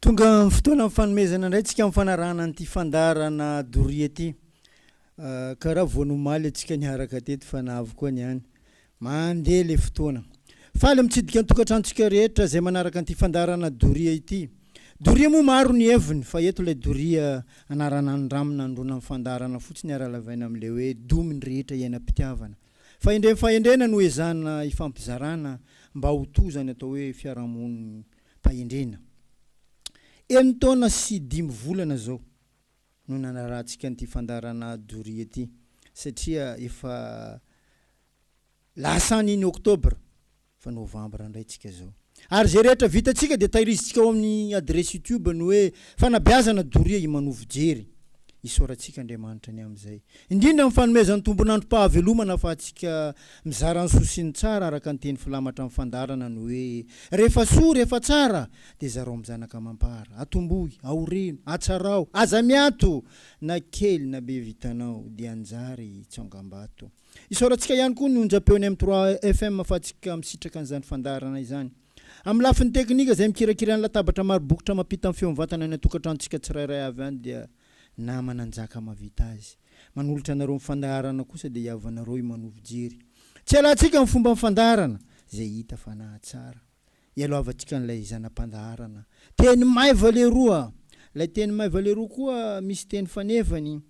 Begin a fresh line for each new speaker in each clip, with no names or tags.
Tonga ny fotoanan'ny fanomezana indray antsika amin'ny fanarahana an'ity fandaharana doria ity. Karaha vao nomaly antsika niaraka teto fa na avy koa ny any. Mandeha ilay fotoana. Faly mitsidika ny tokantranontsika rehetra izay manaraka an'ity fandaharana doria ity. Doria moa maro ny heviny fa eto ilay doria anarana ny rano nandona ny fandaharana fotsiny ary alavaina amin'ilay hoe domy ny rehetra iainam-pitiavana. Fahendrem-pahendrena no ezahina ifampizarana mba ho toa izany atao hoe fiarahamonin'ny Fahendrena. Enin-taona sy dimy volana izao no nanarahantsika an'ity fandaharana doria ity satria efa lasa any ny oktobra fa novambra indray tsika izao. Ary izay rehetra vitantsika dia tahirizitsika ao amin'ny adiresy youtube ny hoe fanabeazana doria i manovo jery. Isaorantsika Andriamanitra ny amin'izay. Indrindra amin'ny fanomezan'ny tombon'androm-pahavelomana afahantsika mizara ny soa sy ny tsara araka ny teny filamatra amin'ny fandaharana ny hoe, Rehefa soa, rehefa tsara, dia zarao amin'ny zanaka amam-para. Atombohy, aoreno, atsarao, aza miato, na kely na be vitanao, dia hanjary tsongambato. Isaorantsika ihany koa ny onjam-peon'ny M trois FM afahantsika misitraka an'izany fandaharana izany. Amin'ny lafiny teknika izay mikirakira ny latabatra maro bokotra mampita ny feo mivantana any an-tokantranontsika tsirairay avy any dia. nama nanjaka mavita azy. Manolotra anareo ny fandaharana kosa dia hiavanareo i Mano fijery. Tsy alantsika ny fomban'ny fandaharana izay hita fa nahatsara. Ialohavantsika an'ilay zana-pandaharana. Teny maiva leroa. Ilay teny maiva leroa koa misy teny fanefany.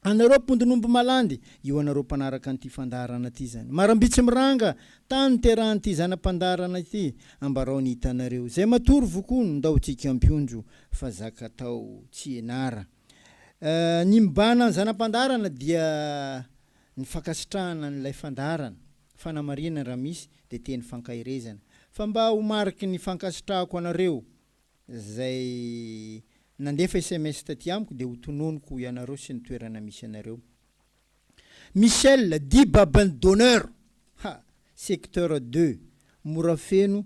Anareo mpondin'omby malandy, io anareo mpanaraka an'ity fandaharana ity izany. Marambitsy miranga, tany niterahan'ity zana-pandaharana ity. Ambarao ny hitanareo. Izay matory vokony, ndao tsy hikampiondro. fa zaka atao tsy ianara. Ny mibahana ny zana-pandaharana dia ny fankasitrahana an'ilay fandaharana, fanamarinana raha misy dia teny fankaherezana fa mba ho mariky ny fankasitrahako anareo zay nandefa sms taty amiko dia ho tononiko ianareo sy ny toerana misy anareo. Michel dit baban'ny donneur ha! secteur deux mora feno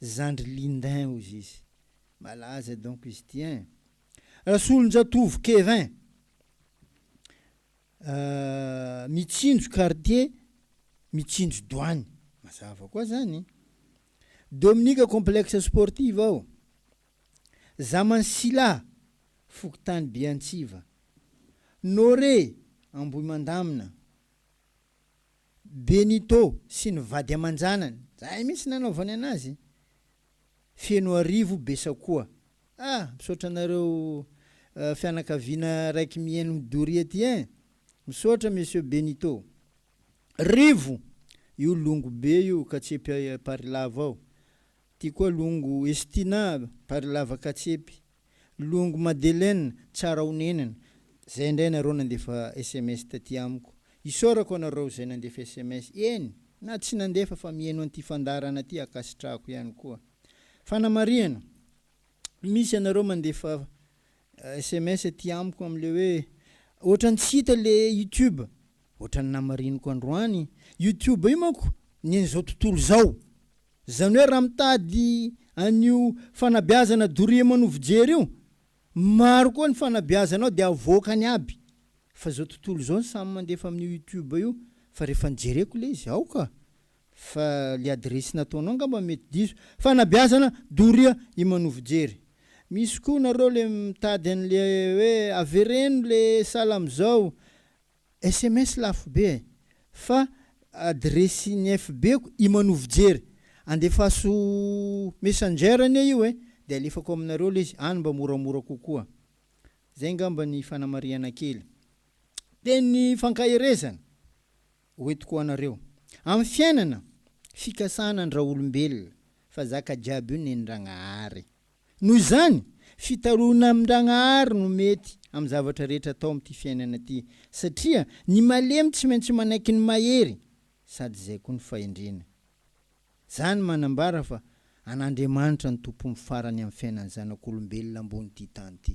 zandry Lindin hozy izy. Malaza donc izy ity ein. Rasolonjatovo Kevin ahh mitsinjo quartier mitsinjo douane mazava koa zany. Dominika complexe sportive ao Zamansilà fokontany Beantsiva. Nore Ambohimandamina. Benito sy ny vady aman-janany, zay mihitsy nanaovany anazy, Fenoarivo Besakoa. Ah! Misaotra anareo fianakaviana raiky mihaino ny doria ty ein! Misaotra Monsieur Benito. Rivo! Io longo be io katsepy Parilava ao. Ty koa longo Estina Parilava katsepy. Longo Madeleine tsara onenana zay ndray nareo nandefa sms taty amiko isaorako anareo zay nandefa sms eny na tsy nandefa fa mieno anty fandaharana ty akasitrahako ihany koa fanamarihana misy anareo mandefa sms aty amiko amle hoe otrany tsy hita le youtube otrany namariniko androany youtube io manko ny anizao tontolo zao Izany hoe raha mitady an'io fanabeazana doria manovo jery io, maro koa ny fanabeazana ao dia avoakany aby, fa izao tontolo izao ny samy mandefa amin'io youtube io, fa rehefa nijereko ilay izy, aoka fa ilay adiresy nataonao angamba mety diso, fanabeazana doria i manovo jery. Misy koa nareo ilay mitady an'ilay hoe avereno ilay salam zao, Sms lafo be eh. Fa adiresin'ny FB-ko i Manovo Jery. Andefaso Messenger anie io eh, dia alefako aminareo ilay izy, any mba moramora kokoa. Izay angamba ny fanamarihana kely. Teny fankaherezana hoentiko ho anareo. Amin'ny fiainana, fikasana an-dRaolombelona fa zaka jiaby io nenin-dragnahary. Noho izany, fitaraoana amin-dragnahary no mety amin'ny zavatra rehetra atao amin'ity fiainana ity, satria ny malemy tsy maintsy manaiky ny mahery sady izay koa ny fahendrena. Izany manambara fa an'Andriamanitra no tompon'ny farany amin'ny fiainan'ny zanak'olombelona ambonin'ity tany ity.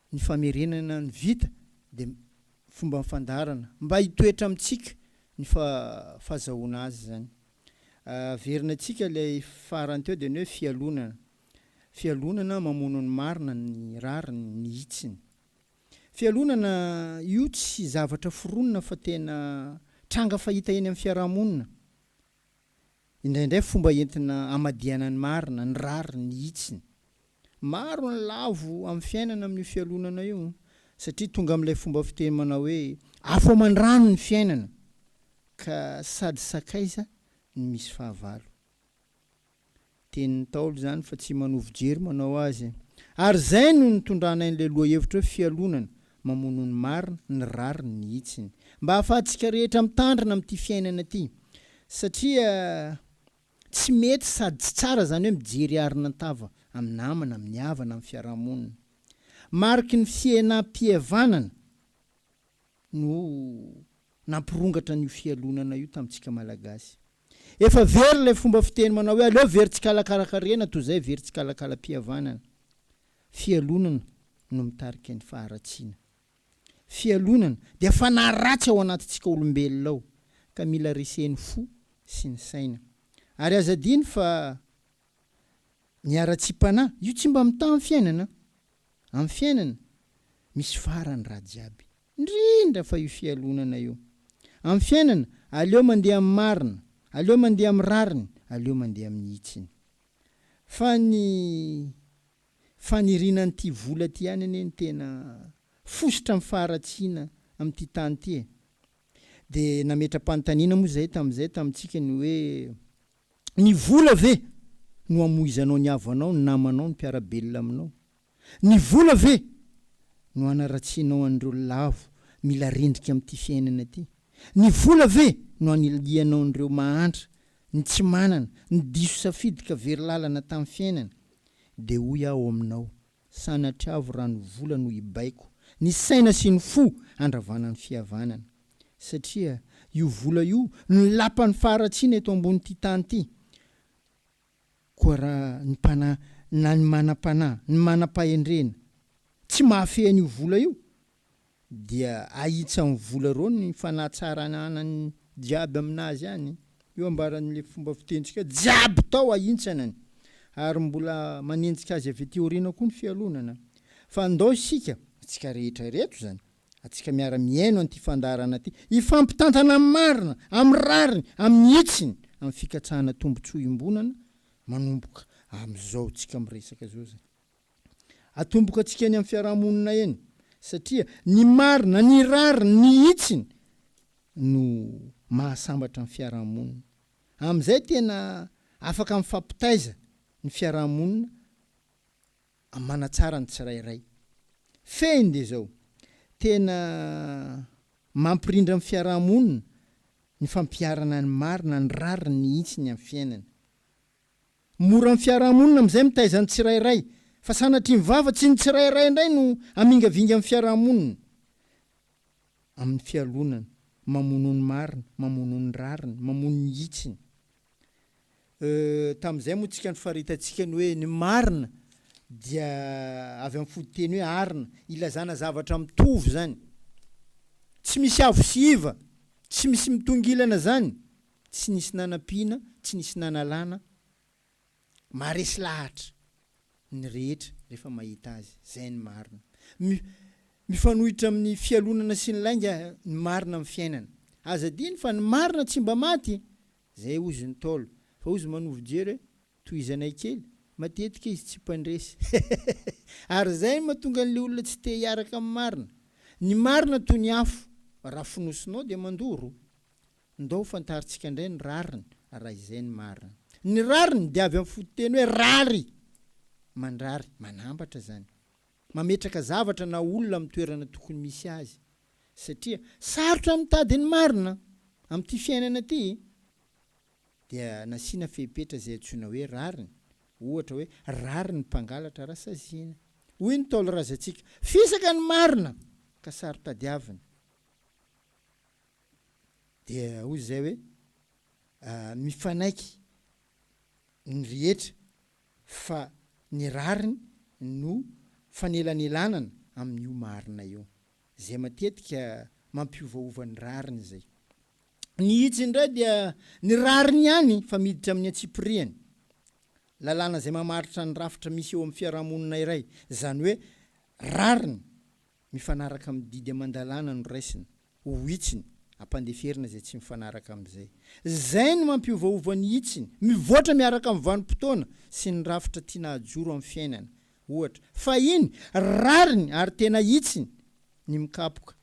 Ny famerenana ny vita dia fomban'ny fandaharana mba hitoetra amintsika ny fahazahoana azy izany. Averina antsika ilay farany teo dia ny hoe fialonana. Fialonana mamono ny marina, ny rariny, ny hitsiny. Fialonana io tsy zavatra foronina fa tena tranga fahita eny amin'ny fiaraha-monina. Indraindray fomba entina hamadihana ny marina, ny rariny, ny hitsiny. Maro ny lavo amin'ny fiainana amin'io fialonana io satria tonga amin'ilay fomba fiteny manao hoe afo aman-drano ny fiainana ka sady sakaiza ny misy fahavalo. Tenin'ny Ntaolo izany fa tsy manovo jery manao azy. Ary izay no nitondranay an'ilay lohahevitra hoe fialonana, mamono ny marina, ny rariny, ny hitsiny. Mba hahafahantsika rehetra mitandrina amin'ity fiainana ity. Satria tsy mety sady tsy tsara izany hoe mijery arina an-tava amin'ny namana, amin'ny havana, amin'ny fiaraha-monina. Mariky ny fihenam-pihavanana. no nampirongatra an'io fialonana io tamintsika Malagasy. Efa very ilay fomba fiteny manao hoe aleo very tsikalakala-karena toy izay very tsikalakala-pihavanana. Fialonana no mitarika ny faharatsiana. Fialonana dia fanahy ratsy ao anatintsika olombelona ao ka mila resen'ny fo sy ny saina. Ary aza adino fa ny haratsiam-panahy, io tsy mba mitaha ny fiainana. Amin'ny fiainana, misy farany raha jiaby, indrindra fa io fialonana io. Amin'ny fiainana, aleo mandeha amin'ny marina, aleo mandeha amin'ny rariny, aleo mandeha amin'ny hitsiny. Fa ny faniriana an'ity vola ity ihany anie no tena fositra amin'ny faharatsiana amin'ity tany ity e. Dia nametra-panontaniana moa izahay tamin'izay tamintsika ny hoe, Ny vola ve no hamoizanao ny havanao, ny namanao, ny mpiara-belona aminao? Ny vola ve no hanaratsianao an'ireo lavo mila rendrika amin'ity fiainana ity? Ny vola ve no hanilihanao an'ireo mahantra, ny tsy manana, ny diso safidy ka very lalana tamin'ny fiainana? Dia hoy aho aminao, Sanatria avo rano vola no hibaiko ny saina sy ny fo handravana ny fihavanana. Satria io vola io no lapan'ny faharatsiana eto ambonin'ity tany ity. Koa raha ny mpanahy na ny manam-panahy, ny manam-pahendrena, tsy mahafehy an'io vola io dia ahitsan'ny vola ireo ny fanatsaranana ny jiaby aminazy any, io ambaran'ilay fomba fitentsika jiaby tao ahintsanany, ary mbola manenjika azy avy aty aoriana koa ny fialonana. Fa ndao isika, antsika rehetra ireto izany, antsika miara mihaino an'ity fandaharana ity, hifampitantana amin'ny marina, amin'ny rariny, amin'ny hitsiny, amin'ny fikatsahana tombotsoa iombonana manomboka amin'izao tsika miresaka izao izany. atomboka antsika eny amin'ny fiaraha-monina eny satria ny marina, ny rariny, ny hitsiny no mahasambatra ny fiaraha-monina. Amin'izay tena afaka mifampitaiza ny fiaraha-monina manatsara ny tsirairay. Fehiny dia izao, tena mampirindra ny fiaraha-monina ny fampiharana ny marina, ny rariny, ny hitsiny amin'ny fiainana. Mora amin'ny fiarahamonina amin'izay mitaiza ny tsirairay, fa sanatria mivava, tsy ny tsirairay indray no hamingavinga amin'ny fiarahamonina, amin'ny fialonana, mamono ny marina, mamono ny rariny, mamono ny hitsiny. Euh, tamin'izay moa tsika no faritantsika ny hoe ny marina dia avy amin'ny fototeny hoe arina, ilazana zavatra mitovy zany. Tsy misy avo sy iva, tsy misy mitongilana zany, Tsy nisy nanampiana, tsy nisy nanalana, maharesy lahatra ny rehetra rehefa mahita azy, izay ny marina. Mi, mifanohitra amin'ny fialonana sy ny lainga ny marina amin'ny fiainana. Aza adino fa ny marina tsy mba maty! Izay hozy ny Ntaolo, fa hozy manovo jery hoe, tohizanay kely, matetika izy tsy mpandresy. Ary izay no mahatonga an'ilay olona tsy te hiaraka amin'ny marina. Ny marina toy ny afo, raha fonosinao dia mandoro. Ndao ho fantarintsika indray ny rariny, raha izay ny marina. Ny rariny dia avy amin'ny fototeny hoe rary, mandrary, manambatra izany. Mametraka zavatra na olona amin'ny toerana tokony misy azy. Satria sarotra ny mitady ny marina amin'ity fiainana ity, dia nasiana fepetra izay antsoina hoe rariny. Ohatra hoe, rary ny mpangalatra raha saziana. Hoy ny Ntaolo razantsika, Fisaka ny marina ka saro tadiavina. Dia hoy izay hoe, Mifanaiky ny rehetra fa ny rariny no fanelanelanana amin'io marina io, izay matetika mampiovaova ny rariny izay. Ny hitsiny indray dia ny rariny ihany fa miditra amin'ny antsipirihany, lalàna izay mamaritra ny rafitra misy eo amin'ny fiarahamonina iray, izany hoe rariny Mifanaraka amin'ny didy aman-dalàna no raisina ho hitsiny, ampandeferina izay tsy mifanaraka amin'izay. Izay no mampiovaova ny hitsiny, mivoatra miaraka amin'ny vanim-potoana sy ny rafitra tiana hajoro amin'ny fiainana, ohatra. Fahiny, rariny ary tena hitsiny ny mikapoka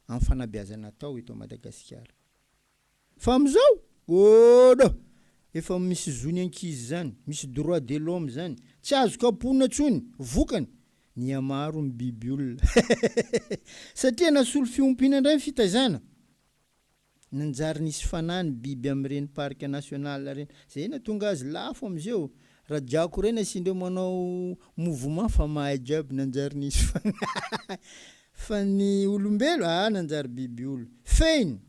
amin'ny fanabeazana atao eto Madagasikara. Fa amizao? Oh no! Efa misy zony ankizy zany, misy droit de l'homme zany, tsy azo kapohina tsony, vokany, mihamaro ny biby olona hehehehe! Satria nasolo fiompiana ndray ny fitaizana, nanjary nisy fanahy ny biby amireny parc national reny, zay natonga azy lafo amizeo, rajako reny asindreo manao mouvement fa mahay jiaby nanjary nisy fanahy fa ny olombelo ah nanjary biby olona, fehiny!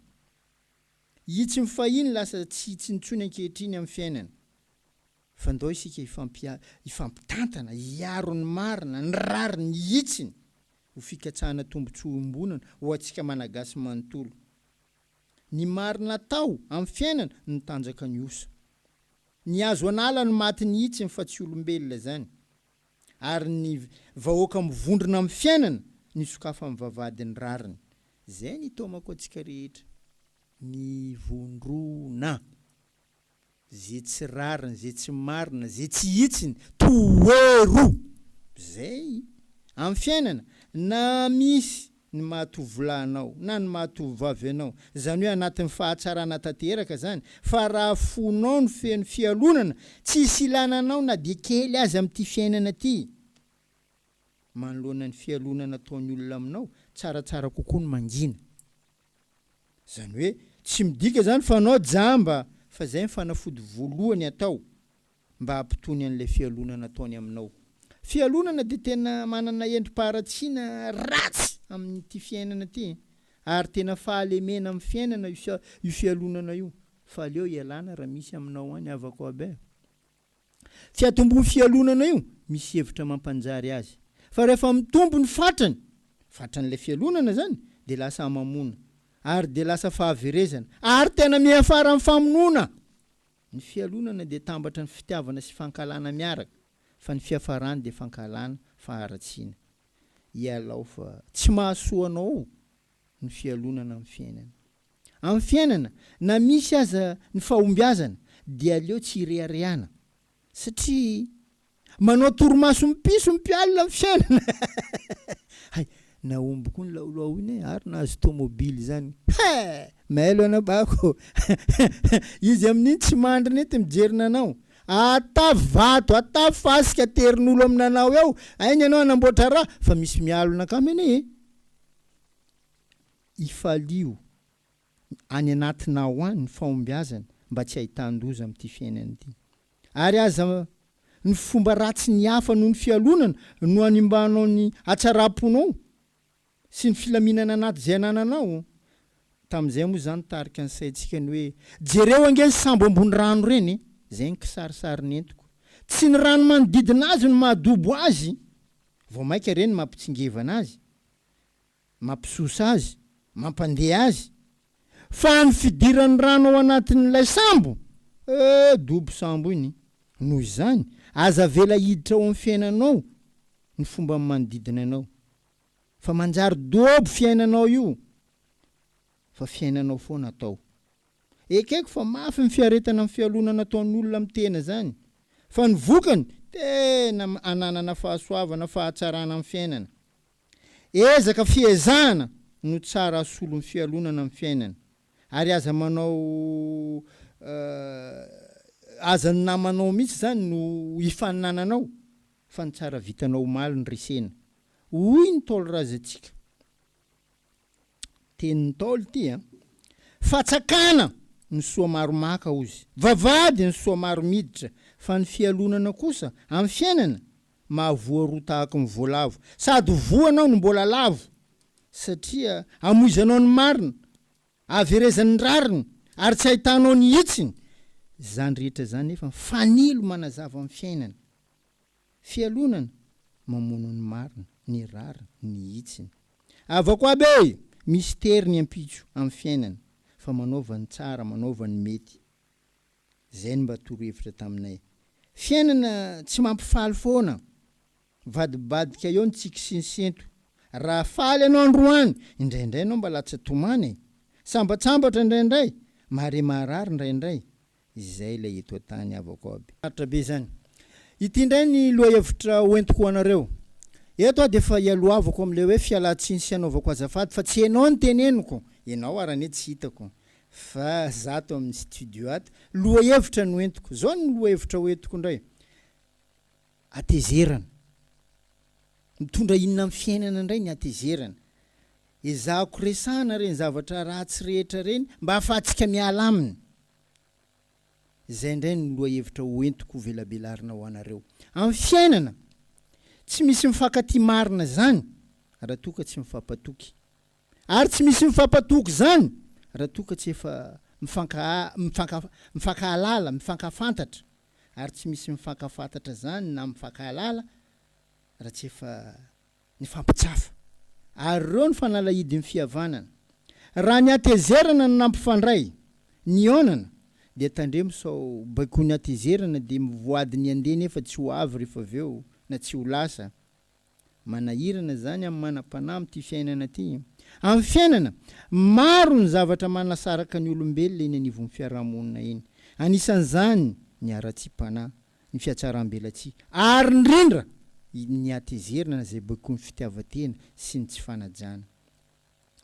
Itsy ny fahiny lasa tsy itsy intsony ankehitriny amin'ny fiainana. Fandao isika hifampitantana, hiaro ny marina, ny rariny, ny hitsiny, ho fikatsahana tombontsoa iombonana ho antsika Malagasy manontolo. Ny marina atao amin'ny fiainana no tanjaka ny osa. Ny azo anala no matin'ny hitsiny fa tsy olombelona izany. ary ny vahoaka mivondrona amin'ny fiainana ny sokafan'ny vavahadin'ny rariny. Izay ny taomako antsika rehetra. Mivondrona. Izay tsy rariny, izay tsy marina, izay tsy hitsiny, toero! Izay, amin'ny fiainana, na misy ny maha tovolahy anao na ny maha tovovavy anao, izany hoe anatin'ny fahatsarana tanteraka izany, fa raha fonao no feno fialonana, tsy hisy ilana anao na dia kely aza amin'ity fiainana ity. Manoloana ny fialonana ataon'ny olona aminao, tsaratsara kokoa ny mangina. Izany hoe tsy midika izany fa anao jamba, fa izay ny fanafody voalohany atao. mba hampitony an'ilay fialonana ataony aminao. Fialonana dia tena manana endri-paharatsiana ratsy amin'ity fiainana ity e! Ary tena fahalemena amin'ny fiainana io fialonana io fa aleo ialana raha misy aminao any havako aby a! Fiatombohan'io fialonana io misy hevitra mampanjary azy fa rehefa mitombo ny fatrany, fatran'ilay fialonana izany, dia lasa hamamona ary dia lasa fahaverezana ary tena miafara amin'ny famonoana! Ny fialonana dia tambatra ny fitiavana sy fankahalana miaraka, fa ny fiafarany dia fankahalana fa haratsiana. Ialao fa tsy mahasoa anao ny fialonana amin'ny fiainana. Amin'ny fiainana, na misy aza ny fahombiazana, dia aleo tsy ireharehana, satria Manao torimason'ny piso ny mpialona ny fiainana. Hay, nahomby koa ny laolao iny e, ary nahazo tomobily izany. He! Mailo anao bako. Izy amin'iny tsy mandry nety mijery nanao. Atavy vato, atavy fasika aterin'olo amin'ny nanao eo, ainy ianao hanamboatra raha, fa misy mialona kamo anie e. Ifalio. any anatinà ao any ny fahombiazany mba tsy hahitan-doza amin'ity fiainana ity. Ary aza ny fomba ratsin'ny hafa noho ny fialonana no hanimbanao ny hatsaram-ponao sy ny filaminana anaty izay anananao. Tamin'izay moa izany tarika ny saintsika ny hoe jereo ange ny sambo ambony rano ireny e! Izay ny kisarisary nentiko. Tsy ny rano manodidina azy no mahadobo azy, vao mainka ireny no mampitsingevana azy. mampisosa azy, mampandeha azy, fa ny fidiran'ny rano ao anatin'ilay sambo, eh, dobo sambo iny, noho izany, aza avela hiditra ao amin'ny fiainanao ny fomban'ny manodidina anao, fa manjary dobo fiainanao io, fa fiainanao foana atao. Ekeko fa mafy ny fiaretana ny fialonana ataon'olona amin'ny tena izany, fa ny vokany, tena ananana fahasoavana, fahatsarana amin'ny fiainana. Ezaka fiezahana no tsara asolon'ny fialonana ny fiainana ary aza manao aza ny namanao mihitsy izany no hifaninananao fa ny tsara vitanao omaly no resena, hoy ny Ntaolo Razantsika. Tenin'ny Ntaolo ity an! Fatsakana ny soa maro maka hozy, vavahady ny soa maro miditra, fa ny fialonana kosa amin'ny fiainana mahavoa roa tahaky ny voalavo, sady ho voanao ny mbola lavo, satria amoizanao ny marina, ahaverezany ny rariny, ary tsy ahitanao ny hitsiny, izany rehetra izany nefa fanilo manazava ny fiainana. Fialonana, mamono ny marina, ny rariny, ny hitsiny. Havako aby e! Misy tery ny ampitso amin'ny fiainana fa manaova ny tsara, manaova ny mety. Izay no mba torohevitra taminay. Fiainana tsy mampifaly foana. Mivadibadika eo ny tsiky sy ny sento. Raha faly ianao androany, indraindray ianao mba latsa-tomana e! Sambatsambatra indraindray, mahare maharary indraindray. Izay ilay eto an-tany havako aby. Sarotra be izany. Ity indray ny lohahevitra hoentiko ho anareo. Eto aho dia efa ialohavako amin'ilay hoe fialantsiny sy anaovako azafady fa tsy ianao no teneniko, ianao ary anie tsy hitako fa za ato amin'ny studio ato. Lohahevitra no entiko. Zao ny lohahevitra hoentiko indray. Hatezerana. Mitondra inona amin'ny fiainana indray ny hatezerana? Ezahako resahana ireny zavatra ratsy rehetra ireny mba hahafahantsika miala aminy. Izay indray no lohahevitra hoentiko hovelabelarina ho anareo. Amin'ny fiainana, tsy misy mifankatia marina izany raha toa ka tsy mifampatoky. Ary tsy misy mifampatoky izany raha toa ka tsy efa mifankahalala, mifankafantatra. ary tsy misy mifankafantatra izany na mifankahalala raha tsy efa nifampitsafa. Ary ireo no fanalahidin'ny fihavanana. Raha ny hatezerana no nampifandray, nihaonana, dia tandremo sao baikoin'ny hatezerana dia mivoady ny handeha nefa tsy ho avy rehefa avy eo na tsy ho lasa. Manahirana izany amin'ny manam-panahy amin'ity fiainana ity. Amin'ny fiainana, maro ny zavatra manasaraka ny olombelona eny anivon'ny fiarahamonina eny. Anisan'izany ny haratsiam-panahy, ny fiatsaram-belatsihy, ary indrindra ny hatezerana izay baikoin'ny fitiavan-tena sy ny tsy fanajana.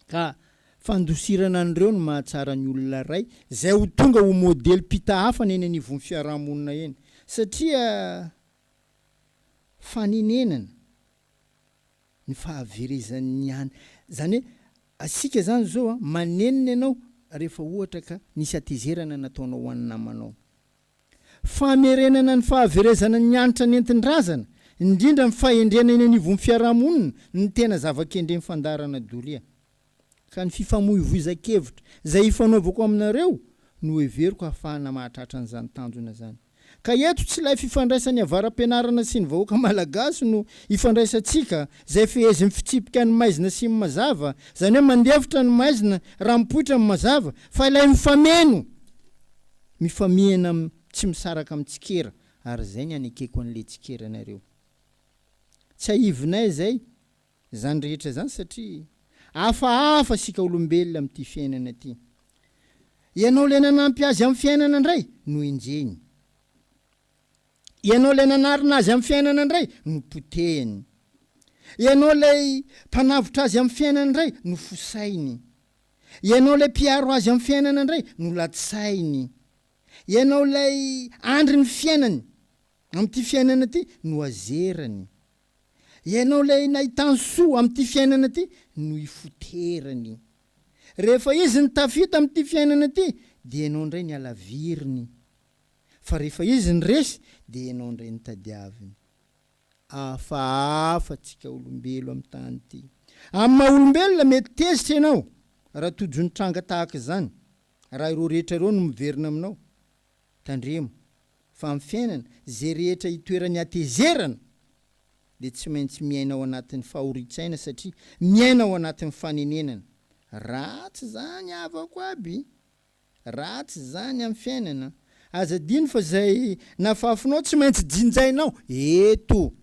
Ka fandosirana an'ireo no mahatsara ny olona iray izay ho tonga ho modely-pita hafana eny anivon'ny fiarahamonina eny. Satria fanenenana ny fahaverezan ny an. Zany hoe asika zany zao an manenina ianao rehefa ohatra ka nisy hatezerana nataonao ho an'ny namanao. Famerenana ny fahaverezana ny hanitra nentin-drazana, indrindra ny fahendrena eny anivon'ny fiarahamonina no tena zava-kendren'ny fandaharana doria. ka ny fifamoivoizan-kevitra izay hifanaovako aminareo no heveriko hahafahana mahatratra an'izany tanjona izany. Ka eto tsy ilay fifandraisan'ny avara-pianarana sy ny vahoaka malagasy no hifandraisantsika izay fehezin'ny fitsipika ny maizina sy ny mazava, izany hoe mandefitra ny maizina raha mipoitra ny mazava, fa ilay mifameno, mifamihina amin'ny tsy misaraka amin'ny tsikera, ary izay ny hanekeko an'ilay tsikera anareo. Tsiahivinay izay. Izany rehetra izany satria hafahafa isika olombelona amin'ity fiainana ity. Ianao ilay nanampy azy amin'ny fiainana indray no enjehiny. Ianao ilay nanarina azy amin'ny fiainana indray no potehiny. Ianao ilay mpanavotra azy amin'ny fiainana indray no fosainy. Ianao ilay mpiaro azy amin'ny fiainana indray no latsainy. Ianao ilay andrin'ny fiainany amin'ity fiainana ity no azerany. Ianao ilay nahita ny soa amin'ity fiainana ity no ifoterany. Rehefa izy no tafita amin'ity fiainana ity dia ianao indray ny alaviriny. Fa rehefa izy no resy dia ianao indray no tadiaviny. Hafahafa tsika olombelo amin'ny tany ity. Amin'ny maha olombelona mety tezitra ianao raha tojo ny tranga tahaka izany, raha ireo rehetra ireo no miverina aminao. Tandremo fa amin'ny fiainana, izay rehetra itoeran'ny hatezerana dia tsy maintsy miaina ao anatin'ny fahorin-tsaina satria miaina ao anatin'ny fanenenana. Ratsy izany havako aby! Ratsy izany amin'ny fiainana! Aza adino fa izay nafafinao tsy maintsy jinjainao eto!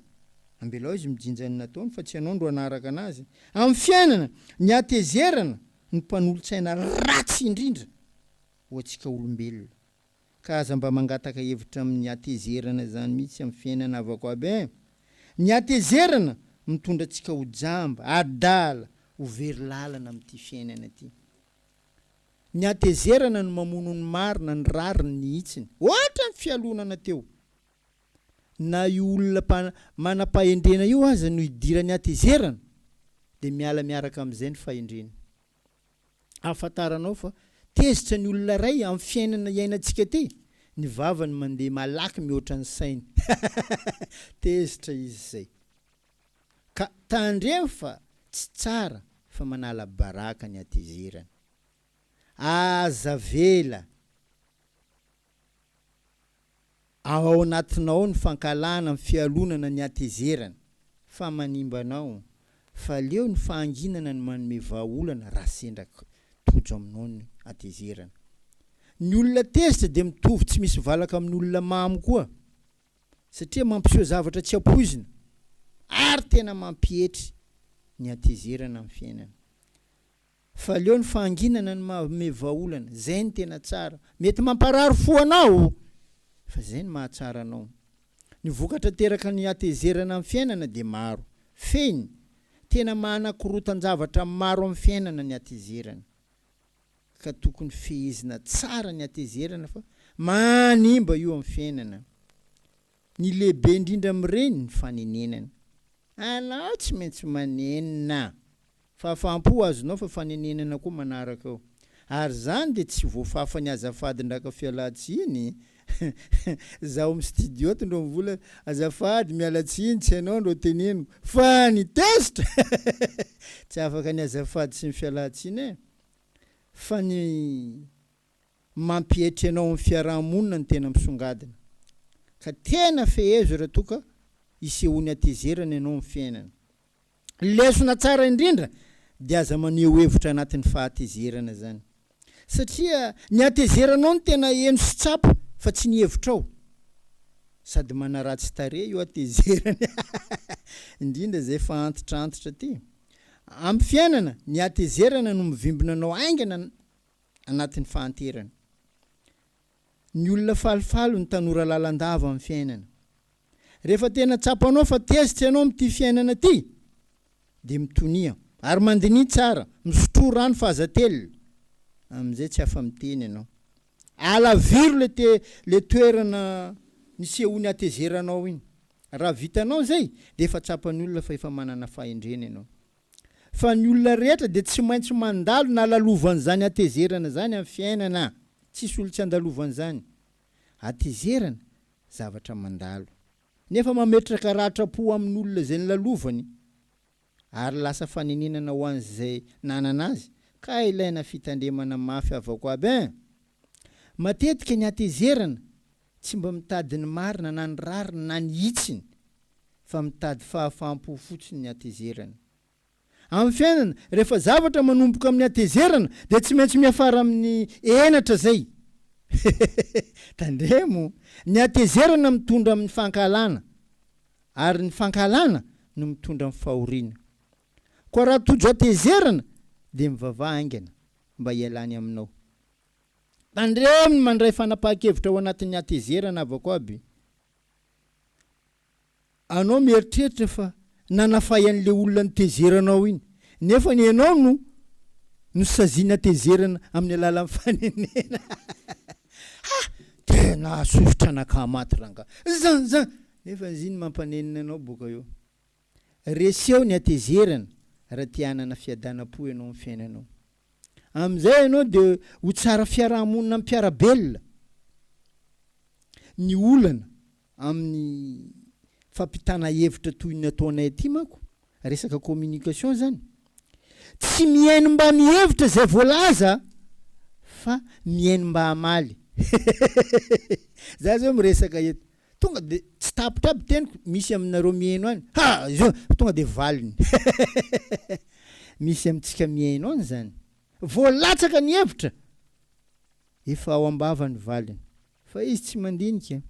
Ambelao izy mijinja ny nataony fa tsy ianao ndro hanaraka anazy. Amin'ny fiainana, ny hatezerana no mpanolo-tsaina ratsy indrindra ho antsika olombelona ka aza mba mangataka hevitra amin'ny hatezerana izany mihitsy amin'ny fiainana havako aby eh! Ny hatezerana mitondra antsika ho jamba, adala, ho very lalana amin'ity fiainana ity. Ny hatezerana no mamono ny marina, ny rariny, ny hitsiny. Ohatra ny fialonana teo. Na io olona manam-pahendrena io aza no idiran'ny hatezerana dia miala miaraka amin'izay ny fahendreny. Ahafantaranao fa tezitra ny olona iray amin'ny fiainana iainantsika ity? Ny vavany mandeha malaky mihoatra ny sainy. Tezitra izy izay. Ka tandremo fa tsy tsara fa manala baraka ny hatezerana. Aza avela. Ao anatinao ao ny fankahalana amin'ny fialonana ny hatezerana fa manimba anao, fa leo ny fahanginana ny manome vahaolana raha sendra tojo aminao ny hatezerana. Ny olona tezitra dia mitovy tsy misy valaka amin'ny olona mamo koa, satria mampiseho zavatra tsy ampoizina ary tena mampietry ny hatezerana amin'ny fiainana. Fa aleo ny fahanginana no mahaome vahaolana, zay no tena tsara. Mety mamparary fo anao, fa zay no mahatsara anao. Ny vokatra ateraky ny hatezerana amin'ny fiainana dia maro. Fehiny, tena mahanakorontan-javatra maro amin'ny fiainana ny hatezerana. Ka tokony fehezina tsara ny hatezerana fa manimba io amin'ny fiainana. Ny lehibe indrindra amin'ireny ny fanenenana. Anao tsy maintsy manenina. Fahafaham-po azonao fa fanenenana koa manaraka eo. Ary izany dia tsy voafafan'ny azafadin-dRaka Fialantsiny za ao amin'ny studio ato ndro mivola azafady miala tsiny tsy ianao ndro teneniko fa ny tezitra tsy afaka ny azafady sy ny fialantsiny e! Fa ny mampietry anao amin'ny fiaraha-monina no tena misongadina. Ka tena fehezo raha toa ka isehoan'ny hatezerana ianao amin'ny fiainana. Ny lesona tsara indrindra dia aza maneho hevitra anatin'ny fahatezerana izany. Satria ny hatezeranao no tena heno sy tsapa fa tsy ny hevitrao. Sady manaratsy tarehy io hatezerana indrindra izay efa antitrantitra ity. Amin'ny fiainana, ny hatezerana no mivimbina anao haingana. anatin'ny fahanterana. Ny olona falifaly no tanora lalandava amin'ny fiainana. Rehefa tena tsapanao fa tezitra ianao amin'ity fiainana ity, dia mitonia ary mandiniha tsara, misotroa rano fahazatelina, amin'izay tsy afa-miteny ianao. Alaviro ilay te, ilay toerana nisehoan'ny hatezeranao iny. Raha vitanao izay, dia efa tsapan'ny olona fa efa manana fahendrena ianao. fa ny olona rehetra dia tsy maintsy mandalo na lalovan'izany hatezerana izany amin'ny fiainana, tsisy olo tsy andalovan'izany hatezerana zavatra mandalo nefa mametraka ratram-po amin'olona izay nilalovany ary lasa fanenenana ho an'izay nanana azy ka ilaina fitandremana mafy avako aby eh! Matetika ny hatezerana Tsy mba mitady ny marina na ny rariny na ny hitsiny fa mitady fahafaham-po fotsiny ny hatezerana. Amin'ny fiainana, rehefa zavatra manomboka amin'ny hatezerana dia tsy maintsy miafara amin'ny henatra izay. Tandremo, ny hatezerana mitondra amin'ny fankahalana ary ny fankahalana no mitondra amin'ny fahoriana. Koa raha tojo hatezerana dia mivavaha haingana mba hialany aminao. Tandremo ny mandray fanapahan-kevitra ao anatin'ny hatezerana avako aby. Anao mieritreritra fa nanafay an'ilay olona notezeranao iny, nefa ny ianao no nosaziany hatezerana amin'ny alalan'ny fanenena. Ha! Tena hahasosotra an'akamaty rangahy. Zan! Zan! Nefa ziny mampanenina anao boka eo. Reseho ny hatezerana raha te hanana fiadanam-po ianao amin'ny fiainanao. Amin'izay ianao dia ho tsara fiaraha-monina amin'ny mpiara-belona. Ny olana amin'ny fampitana hevitra toy ny ataonay aty manko, resaka communication izany, tsy mihaino mba mihevitra izay voalaza fa mihaino mba hamaly. Za izao miresaka eto. Tonga dia tsy tapitra aby teniko misy aminareo mihaino any ha! Zao tonga dia valiny misy amintsika mihaino any zany. Voalatsaka ny hevitra! Efa ao am-bava ny valiny. Fa izy tsy mandinika.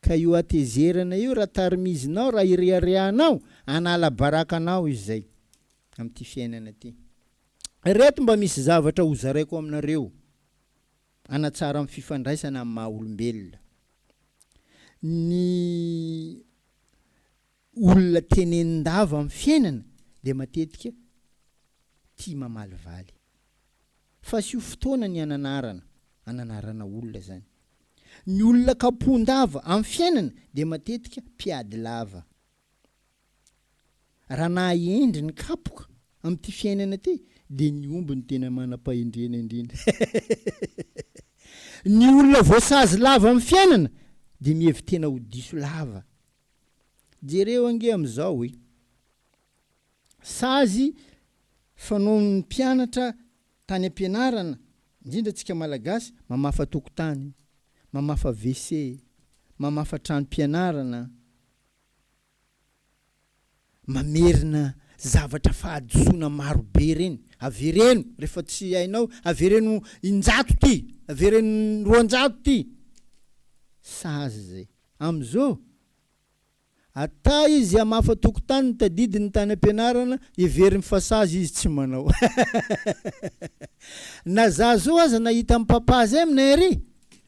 Ka io hatezerana io raha tarimizinao, raha ireharehanao, hanala baraka anao izy zay amin'ity fiainana ity. Ireto mba misy zavatra hozaraiko aminareo. Hanatsara ny fifandraisana amin'ny maha olombelona. Ny olona tenenin-dava amin'ny fiainana dia matetika tia mamalivaly. Fasio fotoana ny hananarana, hananarana olona izany. Ny olona kapohon-dava amin'ny fiainana dia matetika mpiady lava. Raha naha-hendry ny kapoka amin'ity fiainana ity dia ny omby no tena manam-pahendrena indrindra. Ny olona voasazy lava amin'ny fiainana dia mihevi-tena ho diso lava. Jereo ange amin'izao hoe sazy fanaon'ny mpianatra tany am-pianarana, indrindra antsika Malagasy, mamafa tokotany, mamafa WC, mamafa tranom-pianarana, Mamerina zavatra fahadisoana maro be ireny. Avereno rehefa tsy hainao, avereno in-jato ity, avereno roanjato ity. Sazy izay. Amin'izao, ata izy hamafa tokontany, tadidy ny tany am-pianarana, heveriny fa sazy izy tsy manao. Na za zao aza nahita an'i Papa Azem nairy.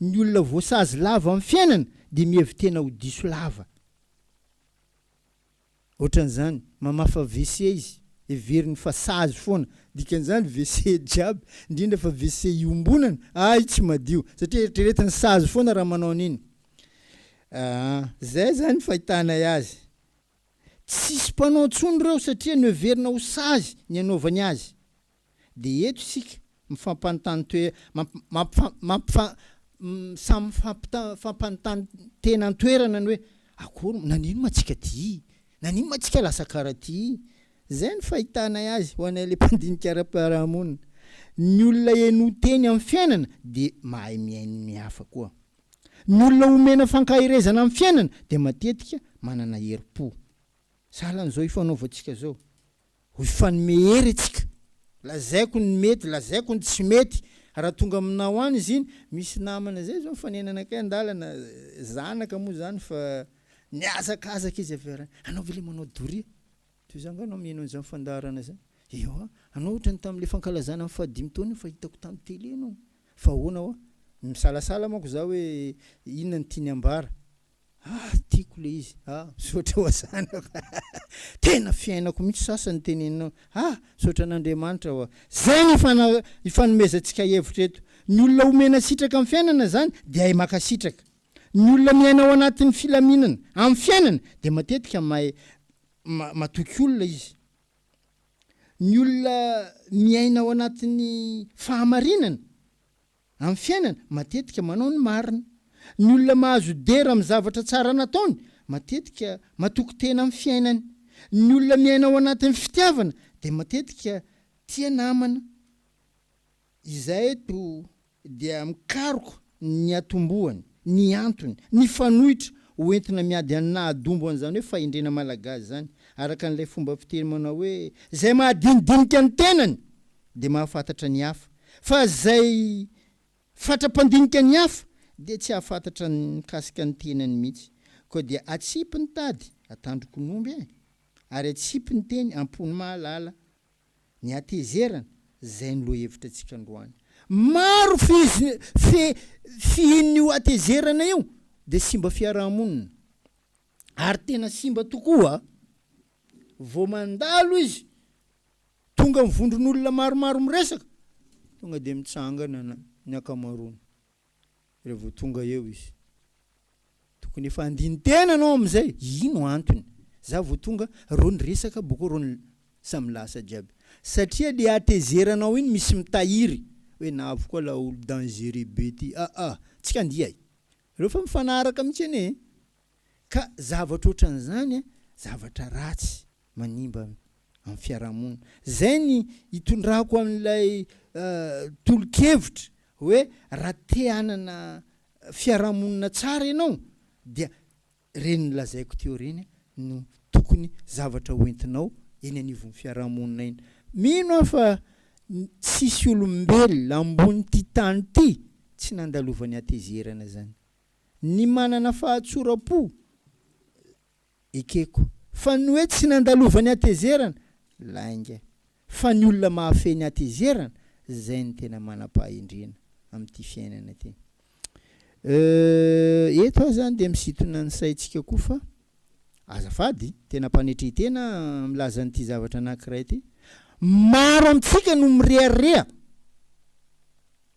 Ny olona voasazy lava amin'ny fiainana dia mihevi-tena ho diso lava. Ohatran'izany, mamafa WC izy, heveriny fa sazy foana. Dikan'izany, WC jiaby, indrindra fa WC iombonana, hay tsy madio, satria eritreretiny sazy foana raha manao an'iny. Aa, izay izany ny fahitanay azy. Tsisy mpanao intsony ireo satria noheverina ho sazy ny hanaovany azy. Dia eto isika mifampanontany toe, mampifa, samy mifampanontany tena an-toerana ny hoe, akory, naninona moa tsika ty? Naninona moa tsika lasa kara ty? Izay no fahitanay azy ho anay ilay mpandinika ara-piarahamonina. Ny olona henoy teny amin'ny fiainana dia mahay mihaino ny hafa koa. Ny olona omena fankaherezana amin'ny fiainana dia matetika manana herim-po. Sahalan'izao ifanaovantsika izao. ho hifanome hery isika, lazaiko ny mety, lazaiko ny tsy mety, raha tonga aminao any izy iny, misy namana zay zao mifanenana akay andalana, zanaka moa zany fa nihazakazaka izy avy ary, anao ve le manao doria? toy za nga anao mino an'izany fandaharana zany? ewa, anao ohatra ny tamin'le fankalazana ny fahadimy taona iny fa hitako tamin'ny tele anao, fa ahoana hoa? misalasala manko za hoe inona no tiany ambara, Ah tiako le izy ah misaotra ho azanao fa tena fiainako mihitsy sasany teneninao ah misaotra an'Andriamanitra wa zay ny ifanomezantsika hevitra eto ny olona omena sitraka amin'ny fiainana zany dia hay makasitraka ny olona miaina ao anatin'ny filaminana amin'ny fiainana dia matetika mahay matoky olona izy ny olona miaina ao anatin'ny fahamarinana Amin'ny fiainana, matetika manao ny marina. Ny olona mahazo dera amin'ny zavatra tsara nataony, matetika matoky tena amin'ny fiainany. Ny olona miaina ao anatin'ny fitiavana dia matetika tia namana. Izahay eto dia mikaroka ny atombohany, ny antony, ny fanoitra ho entina miady an'ny nahadumbo an'izany hoe fahendrena malagasy izany, araka an'ilay fomba fiteny manao hoe, izay mahadinidinika ny tenany! dia mahafantatra ny hafa, fa izay fatra-pandinika ny hafa dia tsy hahafantatra ny mikasika ny tenany mihitsy. Koa dia atsipy ny tady, atandrokon'omby e! ary atsipy ny teny, am-pon'ny mahalala. Ny hatezerana, izay no lohahevitra antsika androany. Maro fiz, fe, fihin'io hatezerana io dia simba fiaraha-monina. Ary tena simba tokoa, vao mandalo izy, Tonga ny vondron'olona maromaro miresaka, tonga dia mitsangana ny ankamaroany. Raha vao tonga eo izy, tokony efa handini-tena ianao amin'izay, ino antony? Za vao tonga, reo niresaka, bokeo reo samy lasa jiaby. Satria le hatezeranao iny misy mitahiry, hoe navy koa laolo dangereux be ty, aa, tsika andiay. Reo fa mifanaraka mihitsy anie e! Ka zavatra ohatran'izany zavatra ratsy manimba amin'ny fiarahamonina. Izay ny itondrako an'ilay tolo-kevitra hoe raha te hanana fiarahamonina tsara ianao dia ireny nolazaiko teo ireny no tokony zavatra ho entinao eny anivon'ny fiarahamonina eny. Mino aho fa tsisy olombelona ambonin'ity tany ity tsy nandalovan'ny hatezerana izany. ny manana fahatsoram-po ekeko. Fa ny hoe tsy nandalovany hatezerana, lainga. Fa ny olona mahafehy ny hatezerana, izay no tena manam-pahendrena amin'ity fiainana ity. Euh, eto aho izany dia misintona ny saintsika koa fa, azafady, tena mpanetrentena milaza an'ity zavatra anankiray ity. Maro amintsika no mirehareha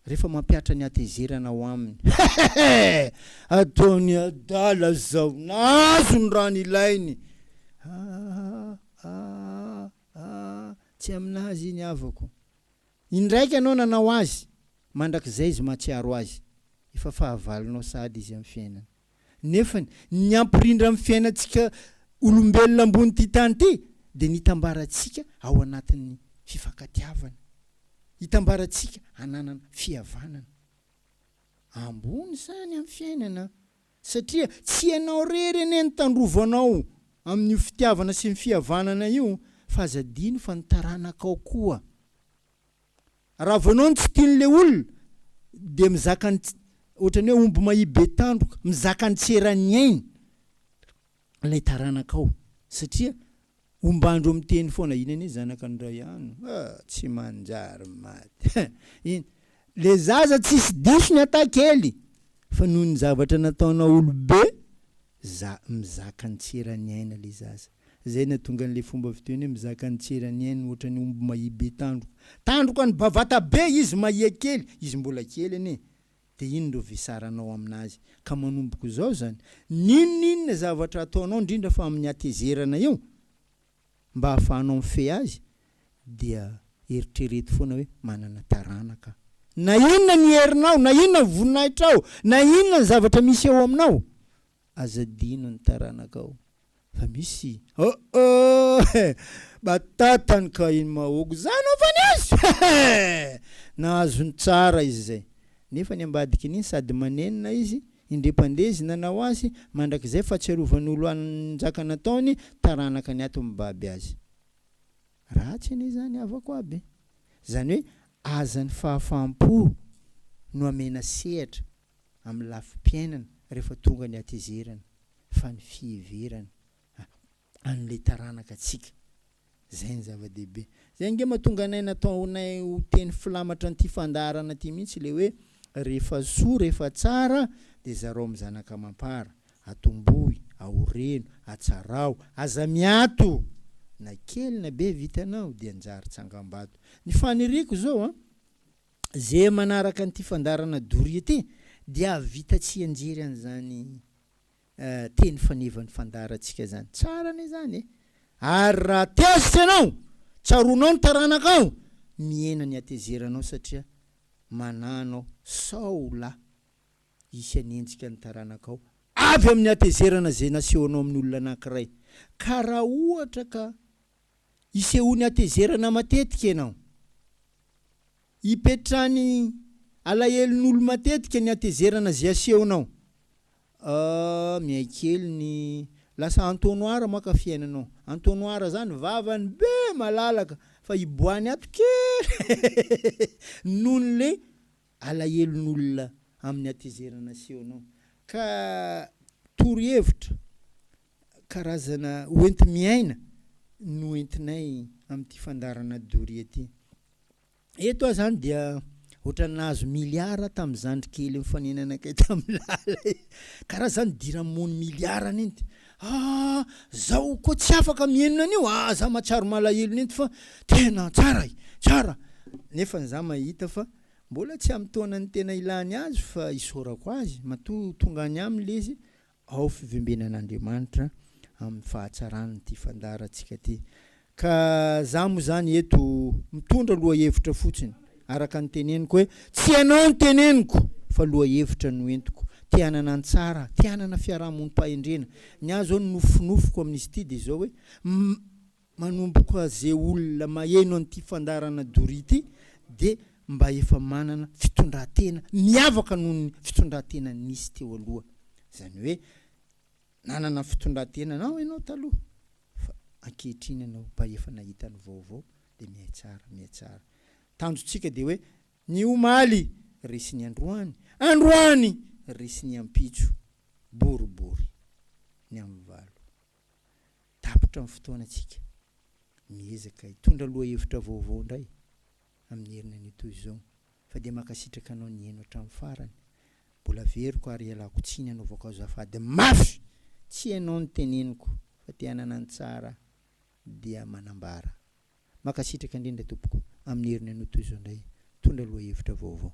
Rehefa mampihatra ny hatezerana ao aminy. Hehehe! Ataony adala zao! Nahazo ny raha nilainy! Aah! Aah! Aah! Tsy aminazy iny havako! Indraika ianao nanao azy! Mandrakizay izy mahatsiaro azy! Efa fahavalonao sahady izy amin'ny fiainany. Nefany, ny hampirindra ny fiainantsika olombelona ambonin'ity tany ity dia ny hitambarantsika ao anatin'ny fifankatiavana, hitambarantsika hananana fihavanana. Ambony izany amin'ny fiainana satria tsy ianao irery anie no tandrovo anao amin'io fitiavana sy ny fihavanana io fa aza adino fa ny taranakao koa. Raha vao ianao no tsy tian'ilay olona dia mizaka ny ohatran'ny hoe omby mahia be tandroka, mizaka ny tsy eran'ny ainy ilay taranakao satria ombandro miteny foana iny anie zanaka ny ray ano ah tsy manjary maty iny le zaza tsisy diso ny ata kely fa noho ny zavatra nataonao olobe za mizaka ny tsy eran'ny aina le zaza. Zay natonga an'le fomba fiteny hoe mizaka ny tsy eran'ny ainy otrany omby mahia be tandroka. Tandroka an'i Bavata be izy mahia kely, izy mbola kely anie de inn reo vesaranao aminazy ka manomboko zao zany? N'inon'inona zavatra ataonao ndrindra fa amin'ny hatezerana eo mba afahanao mifehy azy dia eritrereto foana hoe manana taranaka aho. Na inona ny herinao, na inona ny voninahitrao, na inona ny zavatra misy eo aminao. Aza adino ny taranakao fa misy oh oh eh! batatany ka iny mahogo zany ho'a fa nisy eh eh! nahazony tsara izy zay nefa ny ambadikiny iny sady manenina izy indrey mpandeha izy nanao azy mandrakizay fatsiarovan'olo an njaka nataony taranaka ny ato mibaby azy ratsy anie zany havako aby zany hoe aza ny fahafahampo no amena sehatra amin'ny lafim-piainana rehefa tonga ny hatezerana fa ny fiheverana an'ilay taranaka antsika izay no zava-dehibe. Izay ange mahatonga anay nataonay ho teny filamatra an'ity fandaharana ity mihitsy ilay hoe rehefa soa, rehefa tsara dia zarao amin'ny zanaka amam-para, atombohy, aoreno, atsaraho, aza miato! Na kely na be vitanao dia anjary tsangambato. Ny faniriako izao an! Ze manaraka an'ity fandaharana doria ity dia hahavita tsianjery an'izany teny fanevan'ny fandaharantsika zany. Tsara anie zany e! Ary raha tezitra ianao, tsaroanao ny taranakao, mihena ny hatezeranao satria manano aho sao la hisy hanenjika ny taranakao avy amin'ny hatezerana ze nasehonao amin'ny olona anankiray. Ka raha ohatra ka isehoany hatezerana matetika ianao. Ipetrahany alahelon'olo matetika ny hatezerana ze asehonao. Ahh miay kely ny lasa entonnoir maka fiainanao. Entonnoir zany vavany be malalaka fa hiboahany ato kely nohon'le alahelon'olona amin'ny hatezerana aseho anao ka torohevitra karazana hoenti-miaina no entinay amin'ity fandaharana doria ity. Eto aho izany dia ohatran'ny nahazo miliara tamin'ny zandry kely nifanenanakay tamin'ny lala e! Karaha izany diramon'ny miliara nenty. Ah! Zaho koa tsy afaka mihenona an'io ah! Za mahatsiaro malahelo nenty fa tena tsara e! Tsara! Nefa za mahita fa Mbola tsy amin'ny taonany tena ilany azy fa isaorako azy matoa tonga any aminy lezy ao fivembenan'Andriamanitra amin'ny fahatsarany ty fandaharantsika ty ka za moa zany eto mitondra lohahevitra fotsiny araka ny teneniko hoe tsy ianao ny teneniko fa lohahevitra no entiko te hanana ny tsara te hanana fiarahamonim-pahendrena ny ahy zao ny nofinofiko amin'izy ty dia zao hoe Manomboka ze olona maheno an'ity fandaharana doria ity dia mba efa manana fitondratena miavaka noho ny fitondratena nisy teo aloha. Izany hoe nanana fitondratena anao ianao taloha fa ankehitriny ianao mba efa nahita ny vaovao dia mihay tsara, mihay tsara. Tanjontsika dia hoe ny omaly resy ny androany, androany resy ny ampitso, boribory ny amin'ny valo. Tapitra ny fotoanantsika. Miezaka hitondra lohahevitra vaovao indray amin'ny herinanio toy izao fa dia mankasitraka anao nihaino hatramin'ny farany. Mbola averiko ary ialako tsiny anaovako azafady mafy tsy hainao ny teneniko fa te hanana ny tsara dia manambara. Mankasitraka indrindra tompoko amin'ny herinanio toy izao indray. Mitondra lohahevitra vaovao.